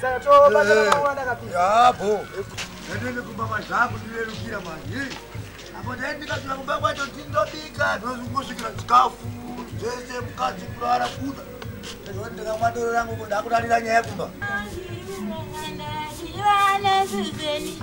Saka tobata eh. mama wanda kapi. Yabo. Ndatende kumba mazvangu ndirerukira manje. Apo ndaendika tuna kumba kwacho ndindobika ndozungusvikira chikafu zvese mukadzi kurara kuda. Ndozondeka madoro rangu kuda kurarira nyaya kumba. Ndazivana ziveni.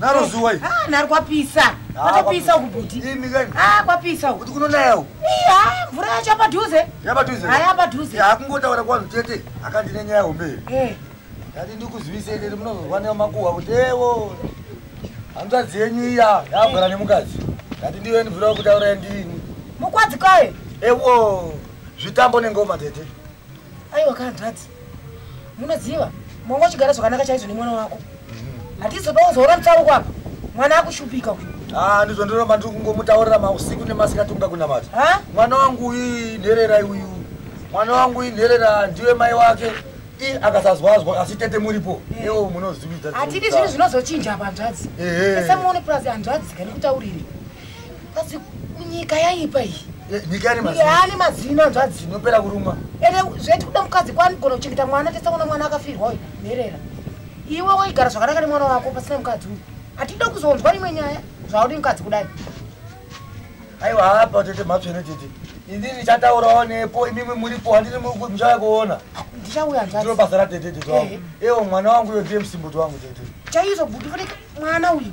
Naro zuwa iri. Ah, naro kwapisa. Ah, kwapisa uku buti. Imi kani? Ah, kwapisa uku. Kuti kunonaya uku. Iya, mvura yacho yapadhuze. Yapadhuze. Ah, yapadhuze. Ya kungotaura kwa mtete akandine nyaya hombe. Eh. Ndati ndikuzivise iri munozozwa ne makuwa kuti ewo. Hanzvadzi yenyu iya yagara eh. nemukadzi. Ndati ndiwe ndivira kutaura ndini. Mukwadzi kwaye. Ewo. Zvitambo nengoma tete. aiwa kanzvadzi munoziva mwangu achigara zvakanaka chaizvo nemwana wako hatizoda kuzoona mutsauko apa mwana akushupika uyu ah, ndizvo ndinova ndiri kungomutaurira mausiku nemasikati unga kunamata mwana wangu uyu nherera uyu mwana wangu uyu nherera ndiwe mai wake i akasazwazwa asi tete muripo eh. ewo munozividza hatidi zvinhu zvinozochinja apa hanzvadzi esemuone purazi hanzvadzi kani kutaurire Pasi nyika yaipa iyi. Eh, nyika ine mazino. Yaani mazino anzwa dzino pera kurumwa. Ere zveti kuda mukadzi kwani gona kuchengeta mwana tesa kuna mwana akafirwa uyu. Nherera. Iwe waigara zvakanaka nemwana wako pasina mukadzi uyu. Atida kuzonzwa imwe nyaya zvaudi mukadzi kudai. Aiwa hapa tete mhatso ino tete. Indi ndichataurawo nepo imimi muripo handini muchauya kuona. Ndichauya nzwa. Ndiro basa ra tete tete wangu. Eh. Ewo mwana wangu uyo ndiye musimboti wangu tete. Chaizvo buti fanike mwana uyu.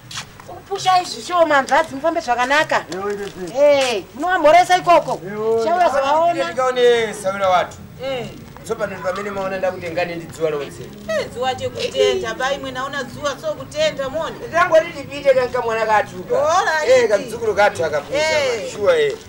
Pusha izvi show manzvadzi mufambe zvakanaka. Eh, munovamhoresa ikoko. Chauya zvavaona. Ndikaone saura watu. Eh. So pano pamene maona ndakutengane ndi dzuwa lonse. Eh, dzuwa chekutenda bai mwe naona dzuwa so kutenda moni. Ndangoti ndipite kanka mwana katuka. Eh, kamzukuru katu akapusa. Eh. Sure eh.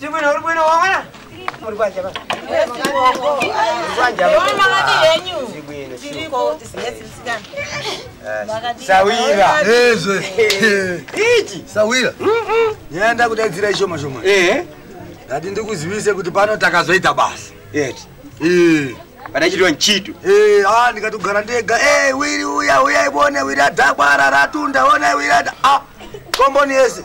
Tibwino uri bwino wawana? Uri kwanja ba? Kwanja. Yona ngati yenyu. Tibwino. Tiriko tisingetsi msikana. Sawira. Ezwe. Ichi. Sawira. Mhm. Yenda kudadzira ishoma shoma. Eh. Ngati ndikuzivise kuti pano takazoita basa. Yeti. Eh. Panachitwa nchito. Eh, ah ndikatogara ndega. Eh, wiri uya uya ibone wira dhakwa ratunda ona wira. Ah. Komboni yese.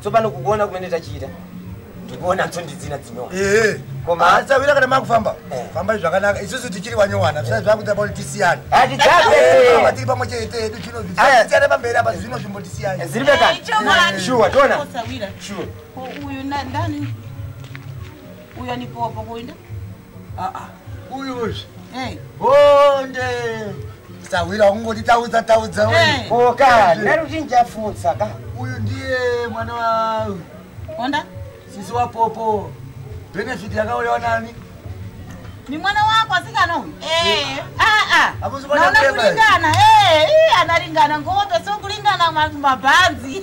tsopano kukuona kumene tachiita ndikuona tsondidzina dzinoa ehe koma asawira kana makufamba eh. fambai zvakanaka isusu tichiri wanyowana zvisai zvakuita pakuti tisiyane hatidzaaa tiri pamwe chete edu chinovisiyana pamberi apa zvino zvimbo tisiyane ziribe kani shuwa tona shuwa uyu ndani uyu anipowa pakuinda aa uyuzvi hey. bonde sahwira wakungoti taudza taudza hey. oka ndaruti ndichafutsa ka uyu ndiye mwana wa onda sisi wapopo benefit yakauyawa nani ni mwana wako asikana uyu eh. aa naona kulingana eh, analingana ngope so kulingana mabhanzi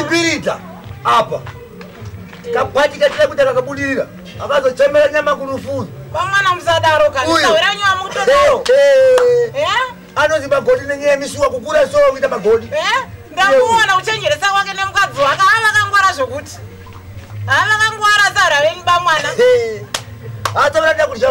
ibirita apa kabati katira kuita kakabudirira akazochemera nyama kurufuzo vamwana musadaro kaauyamukutodaroanozi eh, eh? eh? magodi nenyaya yemisuwa kukura so kuita magodi ndamuona kuchenjeresa kwake nemukadzi wake avakangwara zvokuti avakangwara sara venyu bamwana atovanoda kudya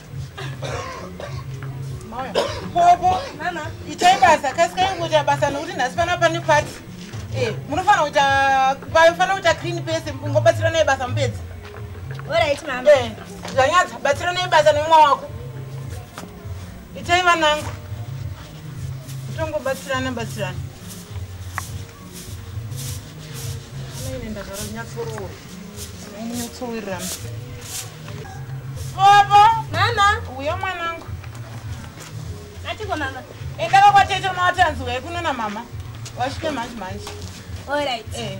popo nana itai basa kasikai kuita basa nokuti nhasi pana pane pati eh, munofanira kuita panofanira kuita clean pese ngobatsiranai basa mupedzi orit mam eh, zvanyadza batsiranai basa nemwa wako itai vanangu tongobatsirana batsirana Bobo, nana, uyo mwanangu. Atiko mama. Enda kwa kwatete unowatanzi wekunona mama. Washike manje manje. All right. Eh.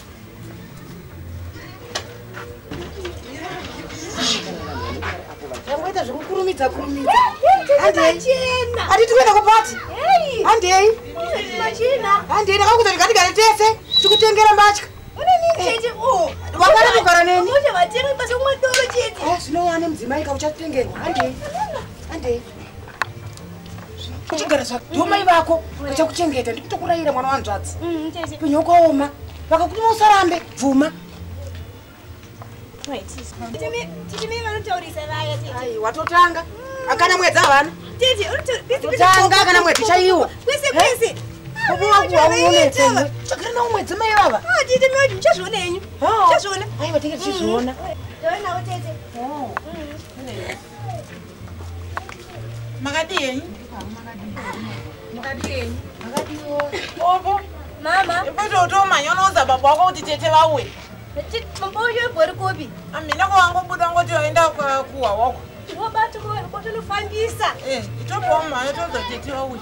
Tangoita zvekukurumidza kurumidza. Handei. Ati tikuenda kupati. Handei. Handei ndakakuta ndikatigare tese tikutengera mbatya. Wakada kugara neni. Zvinowa nemudzimai kauchatengerwa. Handei. Handei. uchigara zvako ndiwo mai vako vachakuchengeta ndikutokurayira mwana wanzvadzi mm, upenyu wakaoma vakakutuma usarambe bvuma watotanga akana mwedzi havana tanga kana mwedzi chaiwo chagara nawo mwedzi mai vava aiwa tenge tichizviona makadii makadii makadii ovo mama ipototomanya unoudza baba wako kuti tete vauye baba uyo ibori kupi amina kwawangobuda ngoti waenda kuwa wako wobati kotonofambisa eh, itobowa mhaya toudza tete vauye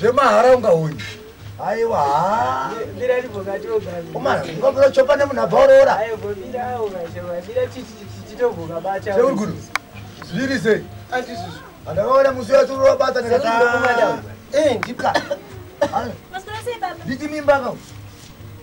zvemahara ungaoni aiwa haa umana ungabura chopa nemunhu abva oroora seuri kuno zviri sei andakaona musi wacho urobata ndikati nditi mimba kau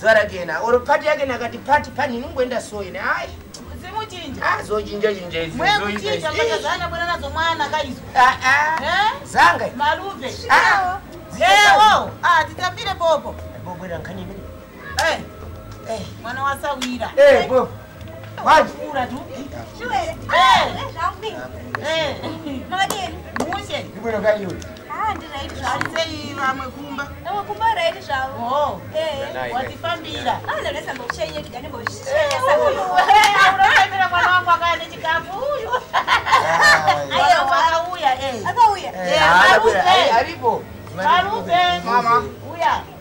zuva rake yena or pati yake nakati pati pani inongoenda so yene hai zochinjachinjazangaitambire bobo mwana wasawira Mama.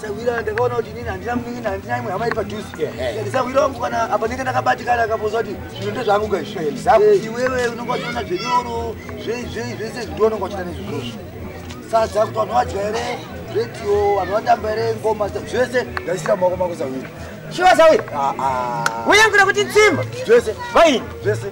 Sahwira ndakaona kuti nini handina munin'ina handina imwe hama iri padhuze sahwira wangu kana apa ndinge ndakabatikana akapoza kuti zvinhu ndezvangu gaizvo eh, iwewe unonga uchiona zvenyoro zvei zvei zvese zvindo unonga uchita nezvizvozvo sadza kuti vanhu vadya here redio vanhu vatamba here ngoma zvese ndaisira maoko mako sahwira shuwa sahwira uye ah, ah. nguda kuti nsimba zvese vaini zvese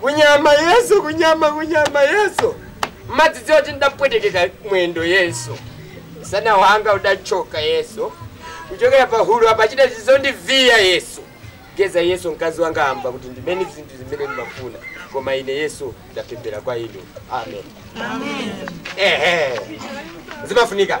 kunyama yeso kunyama kunyama yeso madzidzi oti ndapwetekeka mwendo yeso sana wanga udachoka yeso kuchokera pahuru apa achida zvizondivhiya yeso geza yeso mkazi wanga hamba kuti ndimene zvintu zimene ndimafuna koma ine yeso ndapembera kwaino amen ehe zimafunika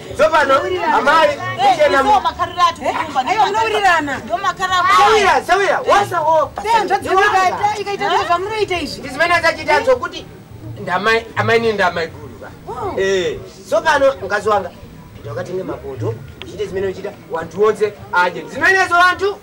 Sopano, amai, kuchena mu. Ayo, unowirirana. Sawira, sawira, wasa ho. Ndizimene achachita anzo kuti ndamai, amai ni ndamai guru ba. Oh. Eh, sopano, mkazi wanga. Ndakati nge mapoto, uchite zimene uchita, wantu wonse aje. Zimene zo wantu.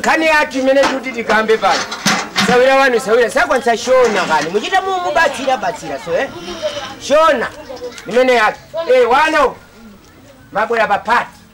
kani ati mene kuti tikambe pano sawira vanhu sawira sakwanisa shona kani muchiita mubatsira batsira so eh? shona imene yake e eh, wana mabwera papati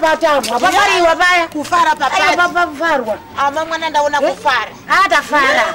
vatambwa vakariwa vaya kufara papafarwa ama mwana ndaona kufara atafara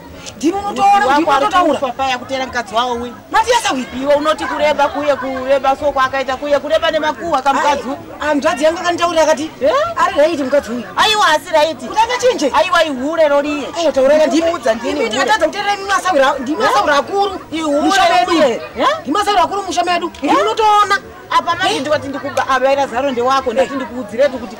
ndimi unotoona kuti unototaura paya kutera mukadzi wawo uyu matiyasa uyu iwe unoti kureba kuye kureba so kwaakaita kuye kureba nemakuhwa kamukadzi uyu hanzvadzi yangu akanditaurira akati eh? ari raiti mukadzi uyu aiwa asi raiti kuti akachinje aiwa ihure roriye ayo taura ka ndimi udza ndimi ndimi tatadza kuterera imi masawira ndimi masawira akuru ihure uye ndimi masawira akuru musha medu ndimi unotoona apa manje ndikati ndikuba avaira zaro ndewako ndati ndikuudziretu kuti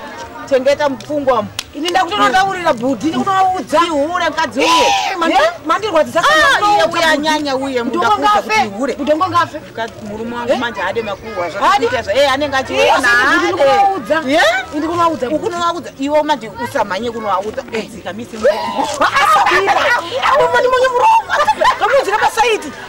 chengeta mupfungwa mu ini ndakutonotaurira bhudhi ndikutovaudza ihure mukadzi uye eh, mandirwadzisauyanyanya ah, uye mudakuzakutihure mutongo ngafe murume wangu eh? manje haade makuhwa zvaaitezva e anenge achiwonaadekunovaudza eh? ukunovaudza iwo manje usamhanye kunovaudza dzika misi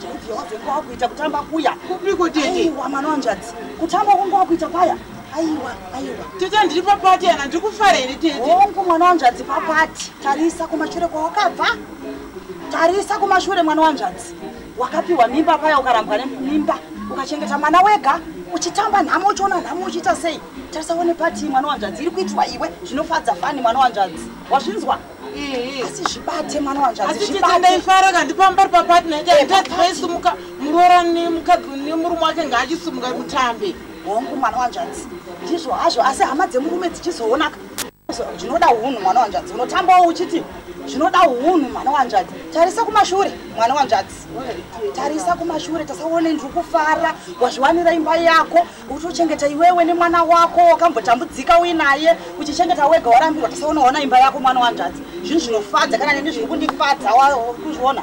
Tete wave kwakuita kutamba kuya. Kupiko tete? Aiwa mwana wanjadzi. Kutamba kunge wakuita paya. Aiwa, aiwa. Tete ndiri papati ana ndikufara here tete? Hongu mwana wanjadzi papati. Tarisa kumashure kwawakabva. Tarisa kumashure mwana wanjadzi. Wakapiwa mimba paya ukarambwa nemimba. Ukachengeta mwana wega uchitamba nhamo uchiona nhamo uchiita sei? Tarisa one pati mwana wanjadzi iri kuitwa iwe zvinofadza fani mwana wanjadzi. Wazvinzwa? asi zvibate mwana wanzvazvibate kanti pambari papartner yake haitadzi vaisumuka muroora nemukadzi nemurume wake ngaachisumuka kutambe hongu mwana wanzvanzi ndizvo hazvo asi hama dzemurume dzichizoonaka zvinoda unhu mwana wanzvanzi unotambawo uchiti zvinoda unhu mwana wanzvanzi tarisa kumashure mwana wanzvanzi tarisa kumashure tasaone ndiri kufara wazviwanira imba yako utochengeta iwewe nemwana wako wakambotambudzika uinaye uchichengeta wega warambirwa tisaona waona imba yako mwana wanzvadzi zvinhu zvinofadza kana neni zviri kundifadza kuzviona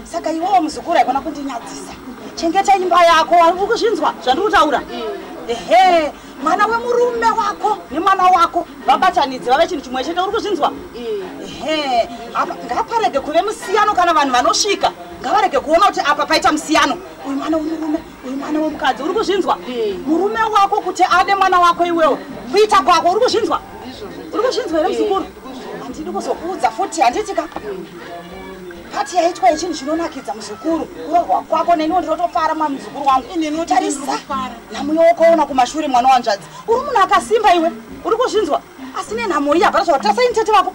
saka iwewo muzukuru haikona kundinyadzisa chengeta imba yako uri kuzvinzwa zvandiri kutaura ehe mwana wemurume wako nemwana wako vabatanidze vave chinhu chimwe chete uri kuzvinzwa ehe apa ngaparege kuve musiyano kana vanhu vanosvika ngavarege kuona kuti apa paita musiyano uyu mwana wemurume uyu mwana wemukadzi uri kuzvinzwa murume wako kuti ade mwana wako iwewo kuita kwako uri kuzvinzwa uri kuzvinzwa here muzukuru handidi kuzokuudza futi handitika pati yaitwa yechinhu chinonakidza muzukuru kurohwa kwako neniwo ndinotofara mwa muzukuru wangu tarisa nhamuyo wokaona kumashure mwana wanzvadzi uri munhu akasimba iwe uri kuzvinzwa asi nenhamo iyi hapana zvakatira saini tete vako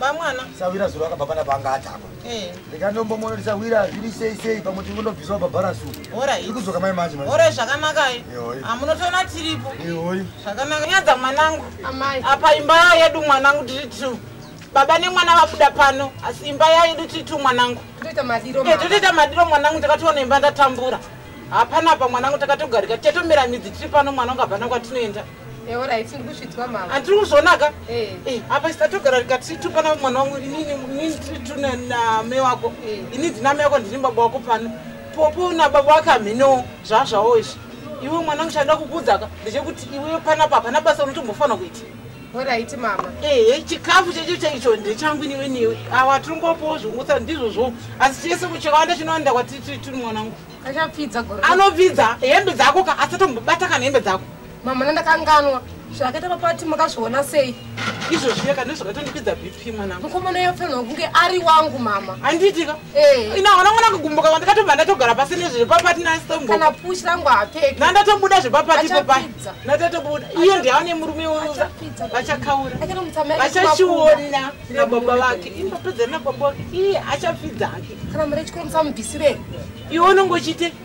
vamwana sawira zuro akabva pana panga atamba eh. ndikandombomono tisawira zviri sei sei pamwe tinondobviswa babharasu ikudzoka mai manje ora zvakanakai amunotoona tiripo zvakanaka nyadza mwanangu apa imba yedu mwanangu tiri two baba nemwana vabuda pano asi imba yayedu tiri two mwanangu totoita madiro eh, mwanangu takatoona imba ndatambura hapana pa mwanangu takatogarika tichatomera midzi tiri pano mwana ungabva nakwatinoenda atiri kuzvonaka eh. eh, apa isatogara rikati tupana mwana wangu inini tiri tune name wako eh. ini ndiname yako ndini baba wako pano popo nababa wake hamhenowo zvazvawo izvi iwe mwana wangu chaida kukudzaka ndechekuti iwe panapa hapana basa unotombofanira kuita oraiti mama ehe chikafu checho chaicho ndechangu niwe niwe awa tiringopowo zvingusa ndizvozvo asi chese kuchakawanda chinoenda kwatiri tiri mwanangu achapfidza anopfidza hembe dzako ka asatombobata kana hembe dzako Mama nandakanganwa zvakaita papati makazviona sei? Izvozvi yaka ndozvakatondikwidza BP mwana. Mukomana yofanirwa kunge ari wangu mama. Andiitika? Eh. Ina wana mwana kugumbuka kwandi katobva ndatogara pasi nezve papati na stombo. Kana push rangu apeke. Na ndatobuda zve papati papa. Na ndatobuda. Iyo ndi aone murume wangu. Vachakaura. Vachachiona na baba vake. Imba pedza na baba vake. Iye achapfidza hake. Kana mure chikuru msamubvisire. Iwe unongochite.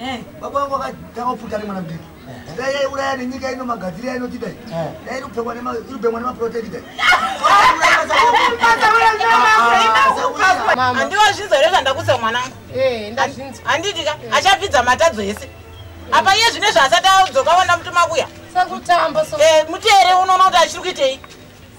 Eh. baba vangu vakatanga kupfuta ari mwana mudiki dai yaiuraya nenyika ino magadziri yainoti dai dai irikupfekwa irikubhemwa nemaproteki dai andiwazvinza here zvandakusa mwanangu handiti ka achapfidza matadzo ese apa iye zvine zvaasati adzoka wanda mutumakuya muteere unoona kuti achiri kuitei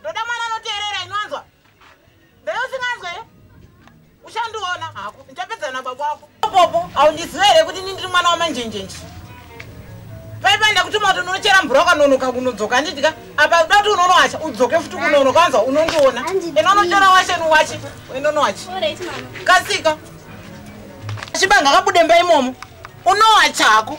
ndoda mwana anoteerera inwanzwa ndeusinganzwe uchandiona hako ndichapedzana nababa wako popo haundiziva here kuti ni ndiri mwana wamanjenjenji paipaenda kutuma kuti unochera mvura ukanonoka kunodzoka anditi ka apa uda kuti unonowacha udzoke futi kunonoka wanzwa unondiona ena unochera washe nuwache inonowachi kasika chibanga kabudemba imomo unowacha hako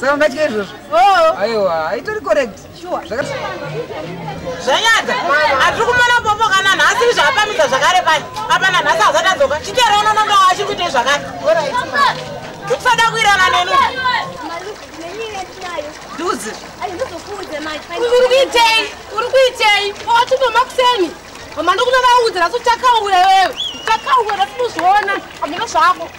saka ungatya izvozvo oh. aiwa itori correct zvanyadza hatiri kumona popo kana nhasi izvaapamisa zvakare pai apana nhasi hazati adzoka chitero unonondo achiri kuita izvakare ndikusada kuirana neni duzi uri kuitei uri kuitei owatinoma kuseni mama ndokunovaudza nasi uchakaura iwewe uchakaura tinozviona amino zvako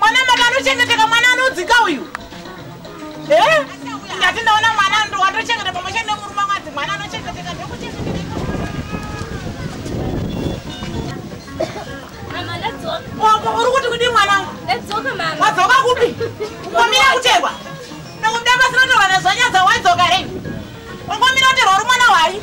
mwana maka anochengeteka mwana anodzika uyu eh? ndati ndaona mwana ndo watochengeta pamwe chete nemurume mwadzi mwana anochengeteka ndokuchengeteka uri kuti kudii mwana wadzoka kupi ungomira kuterwa ndokuda pasinotorwa nezvanyadza waidzoka rei ungomira kuterwa uri mwana hwai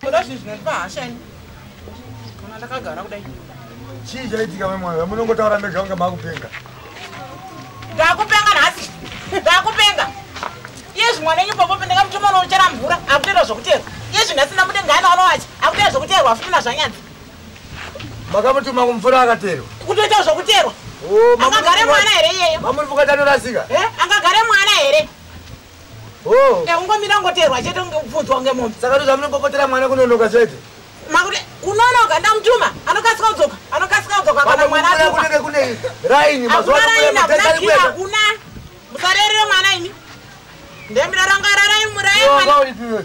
Kuda zvinhu zvinondipa hasha ini. Kana ndakagara kudai. Chii chaitika mai mwana? Munongotaura mega kunge makupenga. Ndakupenga nhasi. Ndakupenga. Iye zvimwana enyu papo pendeka mutuma unochera mvura akutoita zvokuteerwa. Iye zvinhu asina mudenga ana anowacha akutoita zvokuteerwa afuti nazvanyadzi. Makamutuma kumvura akateerwa. Kutoita zvokuteerwa. Oh, Angagare mwana here iyeyo? Mamuri vukati anorasika. Eh? Angagare mwana here? Eh, ungomira ngoteerwa chete unge upfudzwa unge mombe saka ndozva munopopotera mwana kunonoka chete makuti kunonoka ndamutuma anokasika kudzoka anokasika kudzoka kana mwana kunenge kune raini mazuvaakuna musarerere mwana imi ndemira ranga raraimuraimwana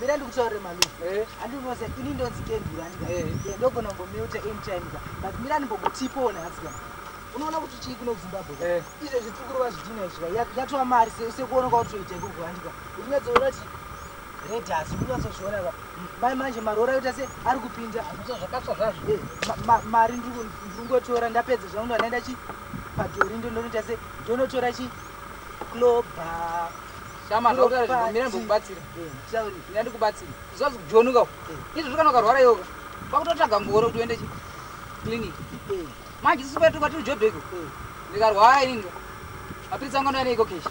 Mira ndikutaurire malume. Eh. Handi unoziva ini ndonzi Kenduru handi ka. Eh. Yeah, ndogona kungomeuta anytime ka. But mira ndimbokutipowo nhasi ka. Unoona kuti chii kuno kuZimbabwe ka. Eh. Izvo zvitsukuru vazvidhina izvi ka. Ya- Yatova mari se- sekuona kwautoita ikoko handi ka. Unyatsoona kuti red hasi unyatsozviona ka. Mai manje maroora yoita se ari kupinda. Hazviso zvakatsva zvazvo. Eh, ma- ma- mari ndiri kungotora ndapedza zvangu ndandaenda chi padhori ndonoita se ndonotora chi cloba Shama zvakutaura zvinhu mira ndokubatsira. Ndina ndikubatsira. Zvazi kujonuka. Izvi zvakana ukarwara yoga. Kwakutotsvaga ngoro kuti uende clinic. Manje sisi kwetu kwatiri job iko. Ndikarwara ini ndo. Mapiritsi angu ndoenda iko keshi.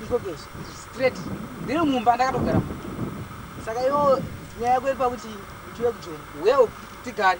Iko keshi. Straight. Ndiri mumba ndakatogara. Saka iwo nyaya yako iri pakuti tiwe kujoni. Wewo tigare.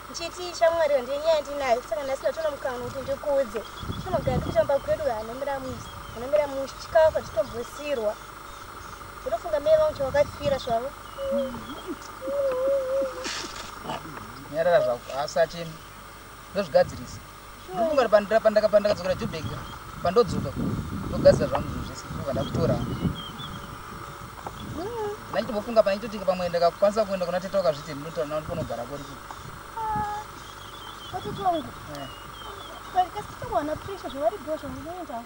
Ndichiti shamwari iyo ndiye nyaya yandinayo saka nhasi ndatoona mukana kuti ndikuudze. Tinogara tichitamba kwedu hanomira musi hanomira musi chikafu hatitombosirwa. Unofunga mai vangu chawakafira zvavo. Nyarara zvako asachemi ndozvigadzirisa. ndokungari pandakadzokera jubek pandodzoka ndogadzira zvangu zvinhu zvese kuva ndakutora ndaitombofunga pane chitotika pamwe ndakakwanisa kuenda kuna tete wakazviti ndinotaura nao ndiponogara kori kii vatete wangu eh. But kasi tete wana pressure zvavari bho zvamunoendawo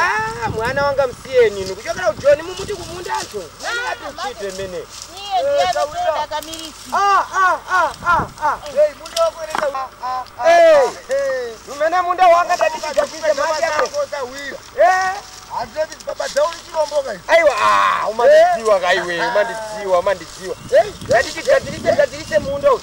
Ah, mwana wanga musiye nini kuchokera kujoni mumuti kumunda acho naniatuchite mene umene munda wanga ndatichiakuita mati aiwa umandidziwa kaiwe umandidziwa umandidziwa ndatichigadzirise gadzirise munda uyu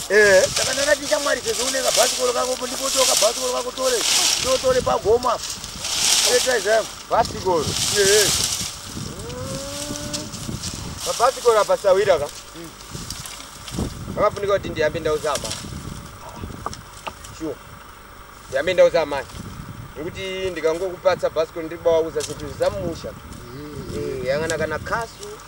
Eh. Saka ndanga ndichamwari sezvo une kabhasikoro kako po ndipotiwo kabhasikoro kako tore ndotore pagoma etaizamu bhasikoro ee pabhasikoro apa sawira ka vakafunika kuti ndiyambe ndauza amai sure ndiyambe ndauza amai nekuti ndikangokupatsa bhasikoro ndiri bawauza zvinhu zvisamusha yangana kana kasu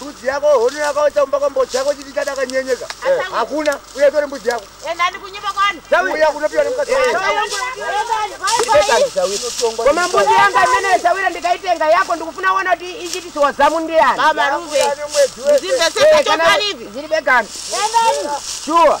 mbudzi yako hono yakaita kumba kwambo chako chiti chadakanyenyeka eh. hakuna uya tore mbudzi yako uya kunopiwa nemukasikomambuzi eh. yanga imene zawira ndikaitenga yako ndikufuna wona kuti ichitisiwa zamu ndiyani eh, ziri begani shuwa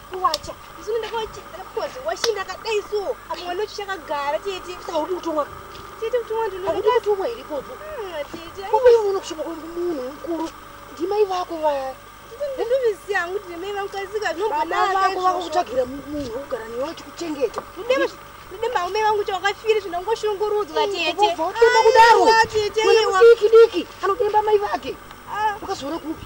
kuwacha isu ndakawachedzera because washi ndakadai so apa mwana wacho chakagara tete saka uri kutumwa tete kutumwa ndinokutumwa here ikodzo tete uyu uno kusvika kwemunhu mukuru ndimai vako vaya ndindoviziva hangu kuti ndimai vangu kasika zvinobonavako vakukutsvagira munhu wekugara newe uchikuchengeta ndidemba umai vangu chawakafiri zvinhu angoshungurudzwa teteaudiki diki anodemba mai vake ah. ukazoona kupi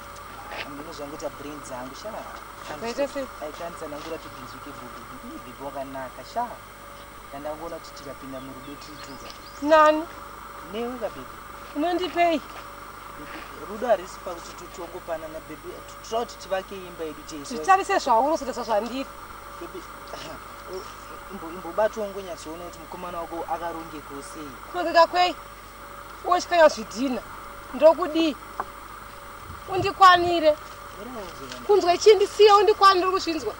ndinozvangoita brain dzangu sha aikanitsanangura tibhinzwike bhubi bhibi wakanaka sha ndandangoona kuti tikapinda murudo tiituka nani newe kabhibi unondipei rudo harisi pakuti tutongopanana bhebi tira kuti tivake imba yedu chezvitarise zvaunosotaisa zvandiri imbobatwa ngonyatsoona kuti mukomana wako akarongekosei kurongeka kwei wochikanya zvidhina ndokudii undikwanire kunzwa chii ndisiye undikwanire uri kuzvinzwa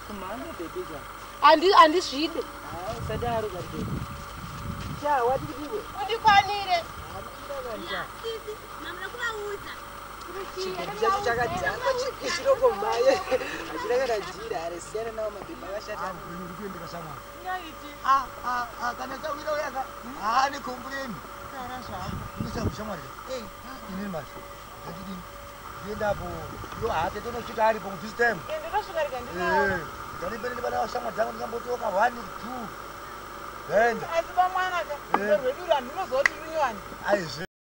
handizvide undikwanire chiroko mhaye achidakadadira aresiyana nawo mabhebha vashata kana chawira uyaka haane kombureni ndichakushamwari ini masi ndandidini ndiendapo yo hake tonosvika aripo ku this time ndandipende ndibana vashamwa dzangu ndingambotoka one two then asi pamwana ka rwedu ranhu unozoti runyowani aizve